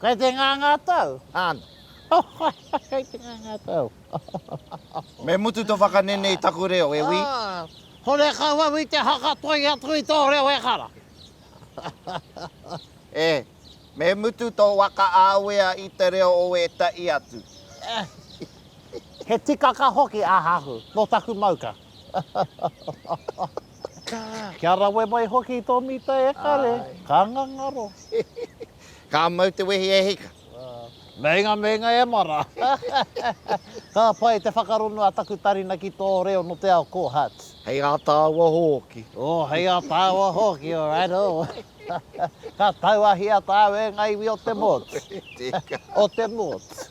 Kei te nganga tau, ana. Kei te nganga tau. Me mutu to whakanene i taku reo, e wi. Hore kau au i te hakatoi atu i to reo ehara. E, me mutu to wakaawea i te reo o etahi atu. He tikaka hoki ahahu, no taku mauka. Kia rawe mai hoki to mita e kare, ka ngangaro. Ka mau te wehi e hika. Meinga meinga e mara. Ka pai te whakarongo a taku tarina ki tō reo nō te ao ko Hutts. Hei ā tāua hōki. Oh, hei ā tāua hōki, oh, righto. Ka tauahia tāu e ngā iwi o te motu. Tēka. O te motu.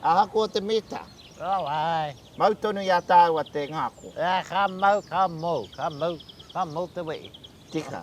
Ahakoa te mita. Rau ai. Mau tonu i a tāua te ngako. Ā, ka mau, ka mou, ka mou, ka mou te wehi. Tika.